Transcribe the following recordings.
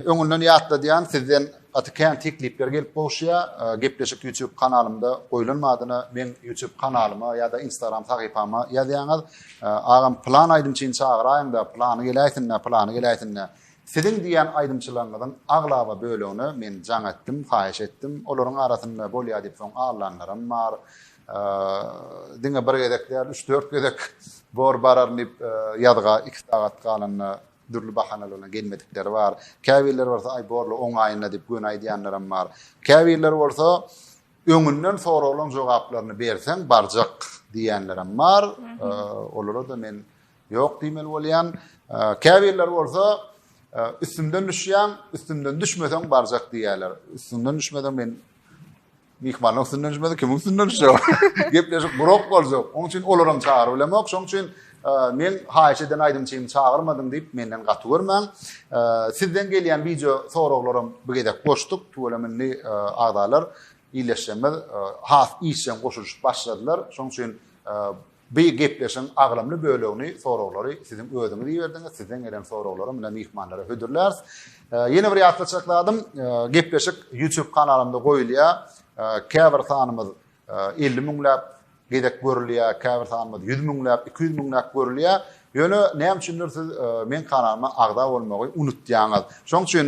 Öňünden ýatladýan sizden gaty kän teklipler gelip gowuşýar. Gepleşik YouTube kanalymda goýlan badyna meň YouTube kanalyma ýa-da Instagram sahypama ýazýaňyz. Agam plan aýdym üçin çagyraýyňda, plany geläýsinda, plany geläýsinda. Siziň diýýän aýdymçylaryňyzyň aglaba bölegine men jaň etdim, haýyş etdim. Olaryň arasynda bolýar diýip soň allanlaram bar. Diňe bir gezek däl, üç-dört gezek bor bararyn diýip ýazga iki sagat galanda Dürli bahanalaryna gelmedikleri bar. Käbirleri bolsa, Aý, bor-la, oňaýyna diýip göni aýdýanlaram bar. Käbirleri bolsa, Öňünden soragylaň jogaplaryny berseň, barjak diýýänlerem bar. Olara-da men ýok diýmeli bolýan. Käbirleri bolsa, Üstümden düşýäň, üstümden düşmeseň barjak diýýärler. Üstüňden düşmeseň men Myhmanyň üstünden düşmedi, kimiň üstünden düşjek? Gepleşik gurak boljak. Oň üçin olaram çagyryp bilemok. Şoň üçin e, men haýyş eden aýdymçymy çagyrmadyň diýip menden gaty görmäň. E, sizden gelýän wideo soraglaram bu gezek goşduk. Tüweleme indi e, agzalar illeşjemiz has işjeň goşulyşyp başladylar. Şoň üçin By gepleşigiň agramly bölegini soraglary siziň özüňiz iberdiňiz, sizden gelen soraglara mine myhmanlara hödürläris. Ýene bir ýatlatjak zadym, gepleşik YouTube kanalymda goýulýar. Käbir sanymyz elli müňläp gezek görülýär, käbir sanymyz ýüz müňläp, iki ýüz müňläp görülýär. Ýöne näme üçindir siz meň kanalyma agza bolmagy unutýaňyz. Şoň üçin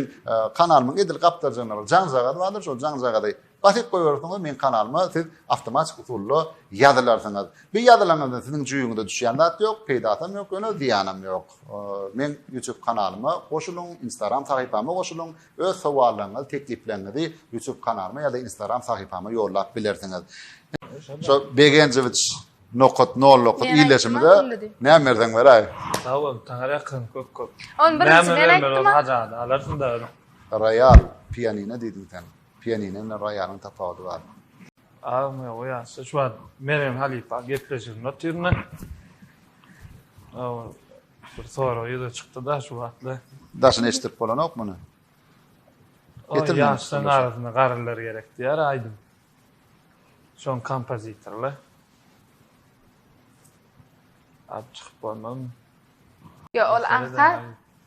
kanalymyň edil gapdalynda bir jaňjagaz bardyr, şol jaňjagazy Basyp goýberseňiz meň kanalyma siz awtomatik usulda ýazylarsyňyz. Bir ýazylaňyzda siziň jüýüňize düşýän zat ýok, peýdasam ýok ýöne zyýanam ýok. Meň YouTube kanalyma goşulyň, Instagram sahypama goşulyň, öz sowallaryňyzy, teklipleňňizi YouTube kanalyma ýa-da Instagram sahypama ýollap bilersiňiz. Şo Begenjewiç nokat nol nokat iýleşimize näme berseň beräý. Sag bol, saňa ýakyn köp köp. Ony birinjiden aýtdym. Näme berseň alarsyň dagyny. Royal pianino diýdiň sen. Pianino bilen roýalyň tapawudy bar. Agam ýok ýaşda şu wagt Mergen halypa gepleşiginde otyryn-da. Ol bir sorag ýüze çykdy-da şu wagtlar. Daşyny eşitdirip bolanok muny. Ol ýaşlaryň arasynda garrylar gerek diýýär aýdym. Şoň kompozitorlar. Alyp çykyp bolmazmy? Ýok ol aňsat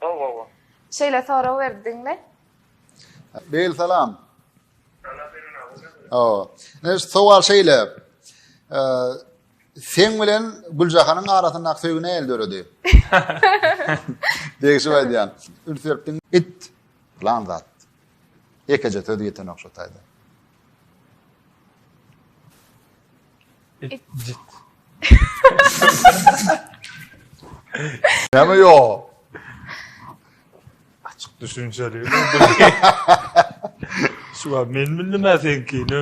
Gowy gowy. Şeýle sorag berdiňmi? Beýl salam. Aw. Ne sowal şeýle. Sen bilen Güljahanyň arasyndaky söýgi näil döredi? Degişip aýdýan. Üns beripdiň. It. Plan zat. Ekeje söz ýeten ok şu taýda. Näme ýok? Açyk düşünjeli. Şu wagt men bildim a seňkini.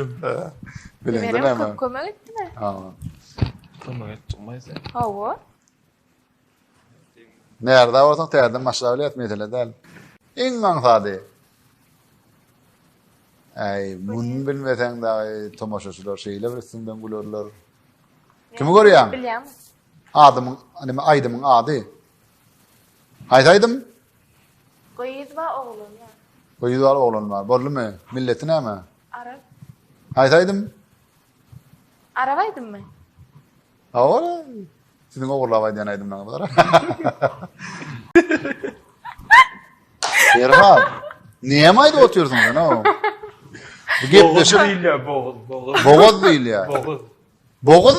Bileňde näme? Kömek etdimi? Ha. Kömek etdim sen. Hawa. Närza bolsaň täzeden başlap bileris mesele däl. Iň aňsady. Äý, muny bilmeseň dagy tomaşaçylar şeýle bir üstüňden gülerler. Kimi görýäň? Bilýän. Adymyň, nime aýdymyň ady? Haýsy aýdym? Gyz we oglan bar. Gyz bar, oglan bar. Boldumy? Milleti näme? Arap. Haýsy aýdym? Arap aýdymmy? Awara, siziň ogurlap aýdýan aýdymlaryňyz gara. Ferhat, näme aýdyp otyrsyň sen o? Bu gepleşik diýilýär, boguz, boguz. Boguz diýilýär. Boguz. Boguz?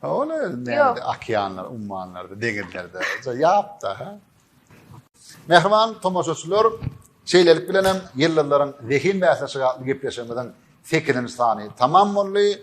Ha ol näde okeanlar, ummanlarda, deňizlerde. Ýapda ha. Mähriban tomaşaçylar, şeýlelik bilen hem ýyldyzlaryň zehin bäsleşigi atly gepleşigimiziň 8-nji sany tamam boldy.